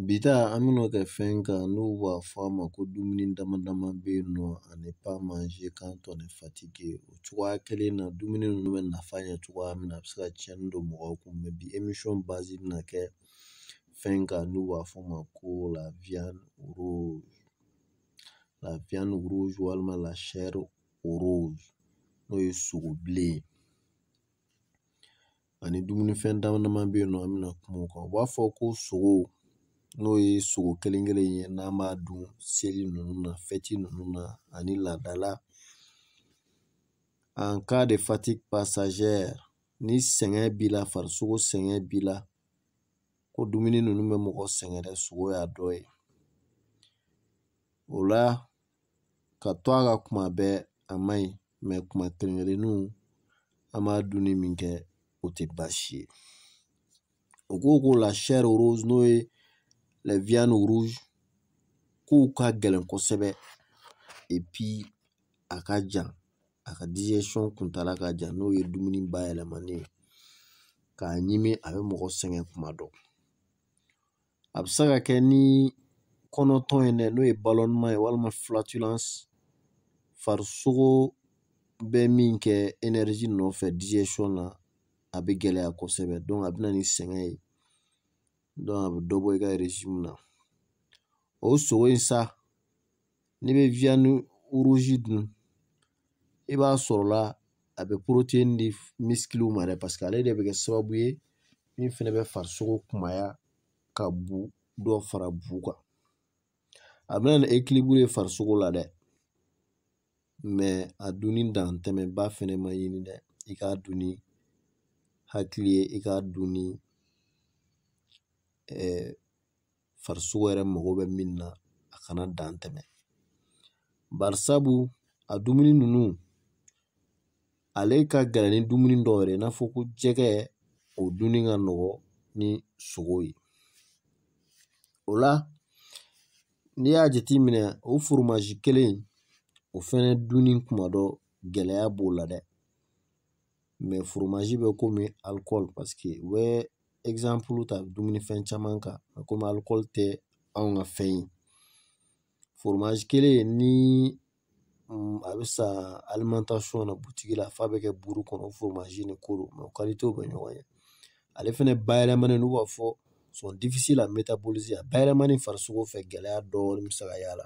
Bi ta an bɛna kɛ fɛn kan n'u b'a fɔ a ma ko dumuni dama dama bɛ yen nɔ à ne pas manger quand on est fatigué o cogoya kelen na dumuni ninnu bɛ nafa ɲɛ cogoya min na a bɛ se ka cɛnni don mɔgɔw kun mɛ bi émission base bɛna kɛ fɛn kan n'u b'a fɔ o ma ko la viande rouge walima la chair rose n'o ye sogo bilen ye ani dumunifɛn dama dama bɛ yen nɔ an bɛna kuma o kan u b'a fɔ ko sogo n'o ye sogo kelen kelen ye n'an b'a dun seli ninnu na fɛti ninnu na ani laadala en cas de fatigue passagère ni sɛgɛn b'i la farisogo sɛgɛn b'i la ko dumuni ninnu bɛ mɔgɔ sɛgɛn dɛ sogo y'a dɔ ye o la ka to a ka kuma bɛɛ a man ɲi mɛ kuma kelen-kelenninw an b'a dunni min kɛ o tɛ baasi ye u ko ko la chair rose n'o ye les viandes rouges k'u ka gɛlɛn kosɛbɛ epi a ka jan a ka digestion kuntaala ka jan n'o ye dumuni bayɛlɛmani ye k'a ɲimi a bɛ mɔgɔ sɛgɛn kuma dɔ a bɛ se ka kɛ ni kɔnɔtɔn ye dɛ n'o ye ballonnement ye walima flatulence farisogo bɛ min kɛ énergie nɔfɛ digestion na a bɛ gɛlɛya kosɛbɛ donc a bɛ na ni sɛgɛn ye donc a bɛ dɔ bɔ i ka régime na o sogo in sa n'i bɛ viande rouge dun i b'a sɔrɔla a bɛ protéine di misikiliw ma dɛ paseke ale de bɛ kɛ sababu ye min fɛnɛ bɛ farisogo kunbaya ka bu dɔ fara bu kan a bɛ na ni ekiliburu ye farisogo la dɛ mɛ a dunni dantɛmɛba fɛnɛ man ɲi dɛ i k'a dun ni hakili ye i k'a dun ni farisogo yɛrɛ mago bɛ min na a kana dan tɛmɛ barisabu a dumuni ninnu ale ka gɛlɛn ni dumuni dɔw yɛrɛ i n'a fɔ ko jɛgɛ o dunni ka nɔgɔ ni sogo ye o la n'i y'a jateminɛ o foromazi kelen o fɛnɛ dunni kuma dɔ gɛlɛya b'o la dɛ mɛ foromazi bɛ komi alikɔli paseke u bɛ exemple ta dumunifɛn caman kan komi alikɔli tɛ anw ka fɛn ye foromazi kelen ni a bɛ san alimantasɔn na butigi la f'a bɛ kɛ buru kɔnɔ foromazi ni koro mɛ qualité bɛ ɲɔgɔn ye ale fɛnɛ bayɛlɛmani n'u b'a fɔ sont difficiles à métaboliser a bayɛlɛmani farisogo fɛ gɛlɛya dɔɔnin bɛ se ka y'a la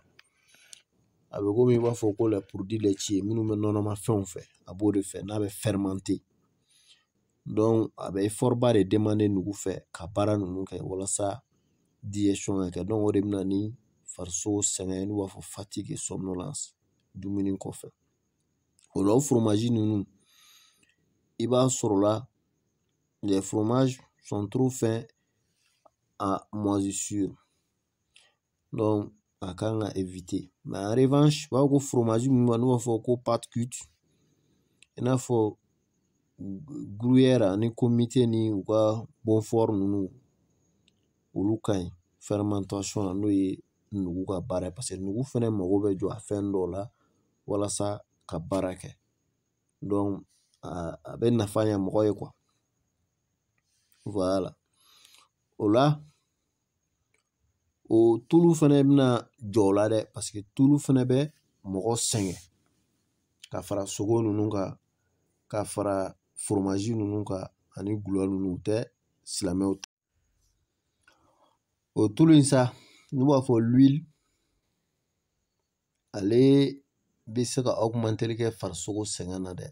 a bɛ komi i b'a fɔ ko les produits laitiers minnu bɛ nɔnɔmafɛnw fɛ a b'o de fɛ n'a bɛ fermenter donc a bɛ effort ba de demander nugu fɛ ka baara ninnu kɛ walasa digestion ka kɛ o de bɛ na ni farisogo sɛgɛn n'u b'a fɔ fatigue et somnolence dumuni kɔfɛ o la o foromazi ninnu i b'a sɔrɔla les fromages sont trop fins à moisissure a kan ka éviter mais en revanche u b'a fɔ ko foromazi minnu n'u b'a fɔ ko pâte cuite i n'a fɔ gruyère ani comté ni u ka beaufort ninnu olu ka ɲi fermentation na n'o ye nugu ka baara ye parce que nugu fɛnɛ mago bɛ jɔ a fɛn dɔw la walasa ka baara kɛ donc a bɛ nafa ɲɛ mɔgɔ ye quoi voilà o la o tulu fɛnɛ bɛna jɔ o la dɛ parce que tulu fɛnɛ bɛ mɔgɔ sɛgɛn ka fara sogo nunnu kan ka fara foromazi nunnu kan ani gulɔ nunnu u tɛ silamɛw ta o tulu in sa n'u b'a fɔ ale bɛ se ka augmenteli kɛ farisogo sɛgɛn na dɛ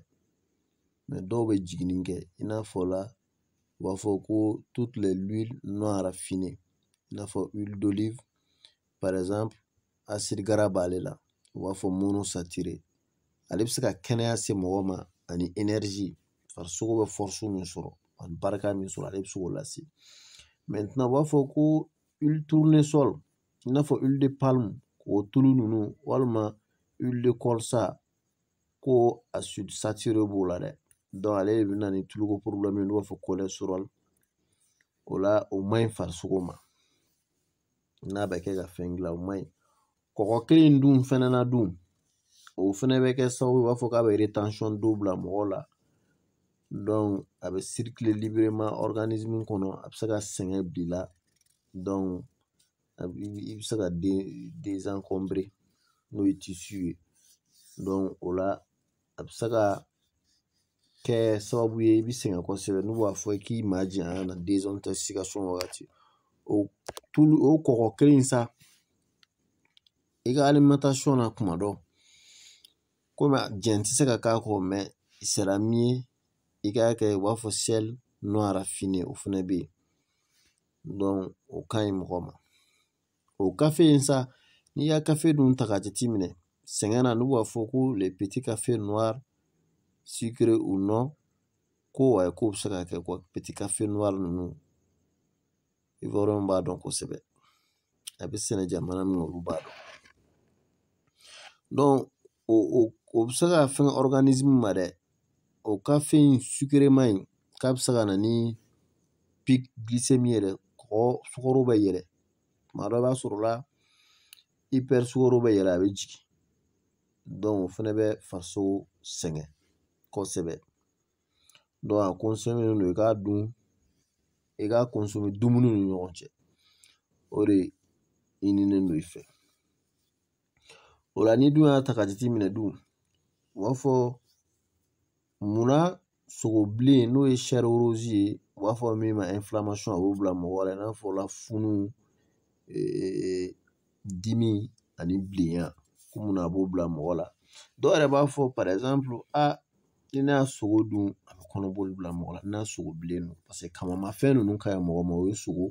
mais dɔw bɛ jiginni kɛ i n'a fɔ la u b'a fɔ ko toutes les l'huile non raffinée i n'a fɔ huile d'olive par exemple acide gras b'ale la u b'a fɔ monosaturé ale bɛ se ka kɛnɛya se mɔgɔ ma ani énergie farisogo bɛ force min sɔrɔ ani barika min sɔrɔ ale bɛ se k'o lase maintenant u b'a fɔ ko huile tournesol i n'a fɔ huile de palme k'o tulu ninnu walima huile de colza ko acide saturé b'o la dɛ ale de bɛ na ni tuluko problème ye n'u b'a fɔ cholestérol o la o man ɲi farisogo ma n'a bɛ kɛ ka fɛn gilan o man ɲi kɔgɔ kelen dun fɛnɛ na dun o fɛnɛ bɛ kɛ sababu b'a fɔ k'a bɛ rétention d'eau bila mɔgɔ la donc a bɛ circuler librement organisme kɔnɔ a bɛ se ka sɛgɛn bila a bi i bɛ se ka den n'o ye ye o la a bɛ se ka kɛ sababu ye i bɛ sɛgɛn kosɛbɛ n'u b'a fɔ k'i ma janya na wagati o tulu o kɔkɔ kelen in sa i ka na kuma dɔ komi a jɛn tɛ se ka k'a kɔ mɛ sara min ye i k'a kɛ u b'a fɔ o fana bɛ yen o ka ɲi mɔgɔ ma o kafe in sa n'i y'a kafe dun ta k'a jateminɛ sɛgɛn na n'u b'a fɔ ko le petit cafe noir sucre ou non ko ayi k'o bɛ se ka kɛ ko petit cafe noir ninnu ivoiriyɛnw b'a dɔn kosɛbɛ a bɛ sɛnɛ jamana min na olu b'a dɔn o bɛ se ka fɛn organisme ma dɛ o kafe in sukerema in k'a bɛ se ka na ni pic glycémie yɛrɛ kɔgɔ sukaro bɛ yɛlɛ tuma dɔ i b'a sɔrɔ la hyper sukaro bɛ yɛlɛ a bɛ jigin donc o fɛnɛ bɛ farisogo sɛgɛn kosɛbɛ donc a kɔnsɔmelen don i k'a dun i k'a kɔnsɔme dumuni ni ɲɔgɔn cɛ o de ɲininen don i fɛ o la n'i dun y'a ta k'a jateminɛ dun u b'a fɔ munna sogo bilen n'o ye chair rouge ye u b'a fɔ min ma inflammation a b'o bila mɔgɔ la i n'a fɔ lafunu dimi ani bilenya ko munna a b'o bila mɔgɔ la dɔw yɛrɛ b'a fɔ par exemple ni ne y'a sogo dun a bɛ kɔnɔboli bila mɔgɔ la n'a sogo bilen don paseke kamamafɛn ninnu ka ɲi mɔgɔ ma o ye sogo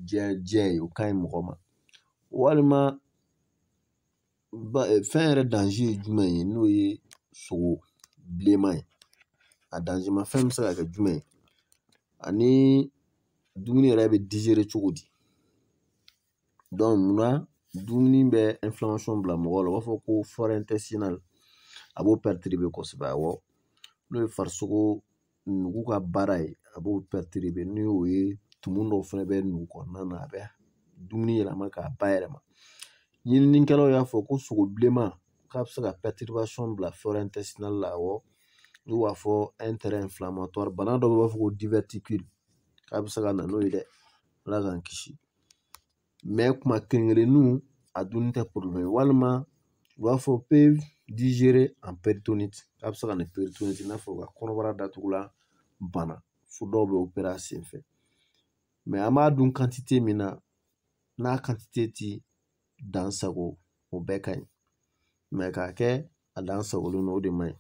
jɛ jɛ ye o ka ɲi mɔgɔ ma walima fɛn yɛrɛ danze ye jumɛn ye n'o ye sogo bilenman ye a danzema fɛn bɛ se ka kɛ jumɛn ye ani dumuni yɛrɛ bɛ dizere cogo di donc munna dumuni bɛ inflammation bila mɔgɔ la u b'a fɔ ko flore intestinale a b'o perturber kosɛbɛ awɔ n'o ye farisogo nugu ka baara ye a b'o perturber ni o ye tumu dɔw fɛnɛ bɛ nugu kɔnɔna na a bɛ dumuni yɛlɛma k'a bayɛlɛma ɲininikɛlaw y'a fɔ ko sogo bilenman k'a bɛ se ka perturbation bila flore intestinale la awɔ n'u b'a fɔ un terrain inflammatoire bana dɔ u b'a fɔ ko diverticule k'a bɛ se ka na n'o ye dɛ ala k'an kisi kuma kelen kelenninw a dunni tɛ problème walima u b'a fɔ pe dizere an peritoniti k'a bɛ se ka na peritoniti i n'a fɔ u ka kɔnɔbara datugulan bana fo dɔw bɛ opere a sen fɛ mɛ an b'a dun kantite min na n'a kantite ti dan sago o bɛɛ ka ɲi mɛ k'a kɛ a dan sagolen don o de man ɲi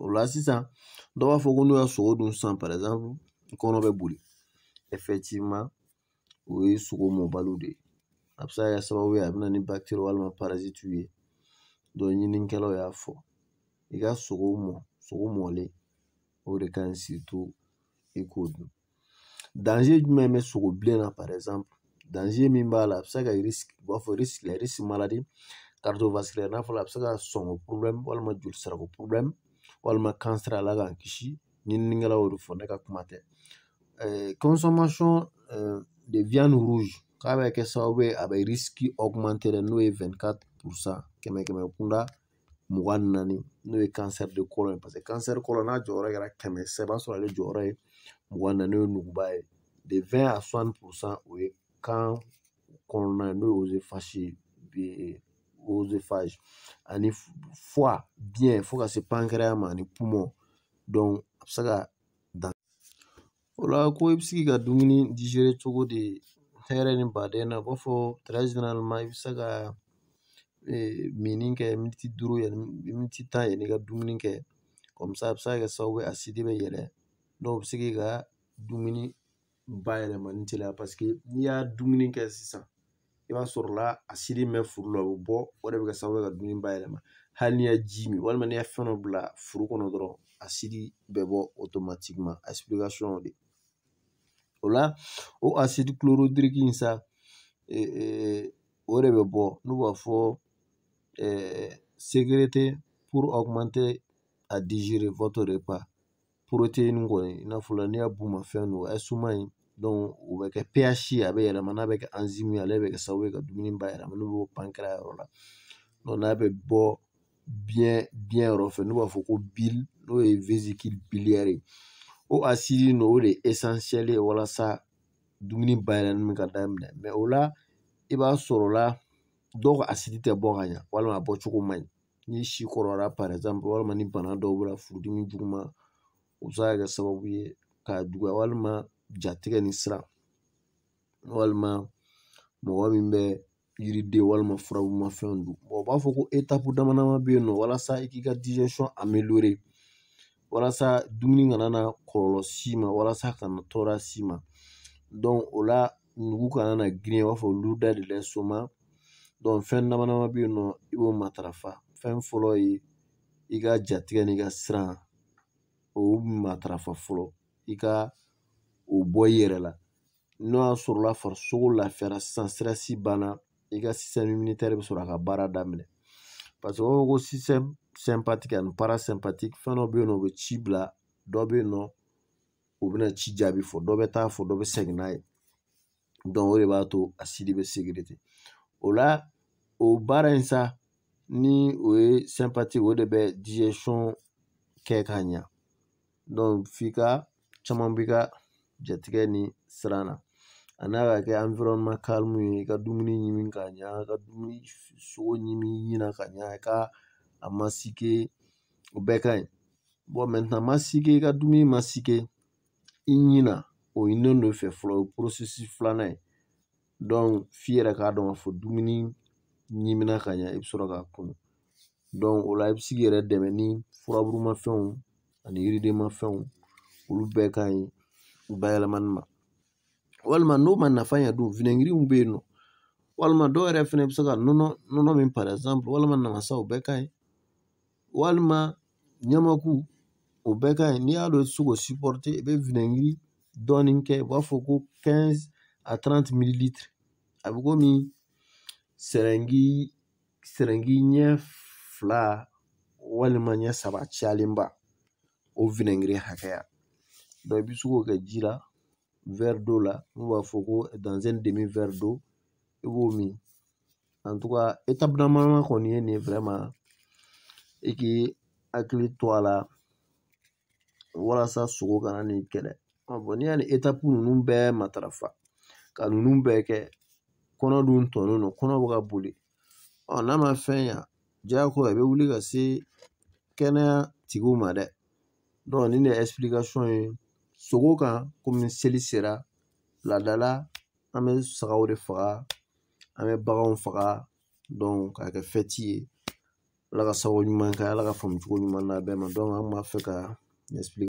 o la sisan dɔw b'a fɔ ko n'u y'a sogo dun sisan par exemple kɔnɔ bɛ boli o ye sogo mɔbaliw de ye a bɛ se ka kɛ sababu ye a bɛ na ni bakitɛri walima parazitiw ye ɲininikɛlaw y'a fɔ i ka sogo mɔ sogo mɔlen o de ka ɲi surtout i k'o dun danze jumɛn bɛ sogo bilen na par exemple danze min b'a la a bɛ se ka risque u b'a fɔ risque maladie cardiovasculaire n'a fɔra a bɛ se ka sɔnko problème walima jolisirako problème walima kansɛri ala k'an kisi ɲininikɛlaw y'o de fɔ ne ka kuma tɛ consommation de viande rouge k'a bɛ kɛ sababu ye a bɛ risque augmenter dɛ n'o ye 24 pourcent kɛmɛ kɛmɛ kunda mugan ni naani n'o ye cancer de côlon ye parce que cancer côlon n'a jɔyɔrɔ kɛra kɛmɛ sa i b'a sɔrɔ ale jɔyɔrɔ ye mugan ni naani n'o ye nuguba ye de 20 à 60 pourcent o ye kan kɔnɔna ye n'o ye œsophage ani foie biyɛn fo ka se pancréas ma ani poumon donc a bɛ se ka dan o la ko i bɛ se k'i ka dumuni digérer cogo di hɛrɛ ni baden na u b'a fɔ très généralement i bɛ se ka minni kɛ miniti duuru yanni miniti tan yanni i ka dumuni kɛ comme ça a bɛ se ka kɛ sababu ye asidi bɛ yɛlɛ donc o bɛ se k'i ka dumuni bayɛlɛmani teliya parce que n'i y'a dumuni kɛ sisan i b'a sɔrɔ la asidi min bɛ furu la o bɛ bɔ o de bɛ kɛ sababu ye ka dumuni bayɛlɛma hali n'i ye ji min walima n'i ye fɛn dɔ bila furu kɔnɔ dɔrɔn asidi bɛ bɔ automatiquement explication de o la o acide chlorhydrique in sa o de bɛ bɔ n'u b'a fɔ sécrété pour augmenter à digérer votre repas kɔni i n'a fɔ la n'i y'a bumafɛn dun a ye suma in donc o bɛ kɛ pH ye a bɛ yɛlɛma n'a bɛ kɛ enzyme ye ale bɛ kɛ sababu ye ka dumuni bayɛlɛma n'u b'o pancréas yɔrɔ la n'a bɛ bɔ biɲɛ biɲɛ yɔrɔ fɛ n'u b'a fɔ ko bile n'o ye vésicule biliaire ye o asidi n'o de ye essentiel ye walasa dumuni bayɛlɛmani ka daminɛ o la i b'a sɔrɔ la dɔw ka asidi tɛ bɔ ka ɲa walima a bɔcogo man ɲi ni si kɔrɔla par exemple walima ni bana dɔw b'i la furudimi juguman o bɛ se ka kɛ sababu ye k'a juguya walima jatigɛ ni siran walima mɔgɔ min bɛ yiriden walima furabumafɛnw dun u b'a fɔ ko étape dama dama bɛ yen nɔ walasa i k'i ka walasa dumuni kana na kɔlɔlɔ s'i ma walasa kana tɔɔrɔ s'i ma donc o la nugu kana na girin i b'a fɔ lourdeur de l'estomac donc fɛn dama dama bɛ yen nɔ i b'o matarafa fɛn fɔlɔ ye i ka jatigɛ n'i ka siran o matarafa fɔlɔ i ka o bɔ i yɛrɛ la n'o y'a sɔrɔla farisogo lafiyara sisan stress banna i ka système immunitaire bɛ sɔrɔ a ka baara daminɛ parce que o b'a fɔ ko système sympathique ani parasympathique fɛn dɔ bɛ yen nɔ o bɛ ci bila dɔ bɛ yen nɔ o bɛna ci jaabi fɔ dɔ bɛ taa fɔ dɔ bɛ segin n'a ye o de b'a to asidi bɛ sécrété o la o baara in sa ni o ye sympathique o de bɛ digestion kɛ ka ɲa f'i ka caman b'i ka jatigɛ ni siran na a n'a ka kɛ ye i ka dumuni ɲimi ka ɲa ka dumuni sogo ɲimi ɲina ka ɲa i ka a masigi o bɛɛ ka ɲi masigi i ka dumuni masigi i ɲina o ɲinini de fɛ fɔlɔ o ye filanan ye f'i yɛrɛ k'a dɔn k'a fɔ dumuni ɲimina ka ɲɛ i bɛ sɔrɔ k'a kunu o la i bɛ se k'i yɛrɛ dɛmɛ ni furaburumafɛnw ani yiridenmafɛnw olu bɛɛ ka ɲi bayɛlɛmani ma walima n'o ma nafa ɲɛ dun winɛgiriw bɛ yen nɔ walima dɔw yɛrɛ fɛnɛ bɛ se ka nɔnɔ nɔnɔ min par exemple walima namasa o bɛɛ ka ɲi walima ɲamaku o bɛɛ ka ɲi n'i y'a dɔn i tɛ se k'o sipɔrite i bɛ winɛgiri dɔɔni kɛ u b'a fɔ ko quinze à trente mililitiri a bɛ komi sɛrɛngi ɲɛ fila walima ɲɛ saba cayalenba o winɛgiri hakɛya i bɛ se k'o kɛ ji la verre d'eau la n'u b'a fɔ ko dans un demi verre d'eau i b'o min kɔni ye nin vraiment i k'i hakili to a la walasa sogo kana n'i kɛlɛ n'i y'a ni étape ninnu bɛɛ matarafa ka ninnu bɛɛ kɛ kɔnɔ dun tɔnnen don kɔnɔ bɛ ka boli ɔ n'a ma fɛn ɲa diyagoya i bɛ wuli ka se kɛnɛya tigiw ma dɛ nin de ye explication ye sogo kan komi seli sera laada la an bɛ sagaw de faga an bɛ baganw faga donc k'a kɛ fɛti ye ala ka sago ɲuman kɛ ala ka faamucogo ɲuman d'an bɛɛ ma donc an kun b'a fɛ ka ɲɛsin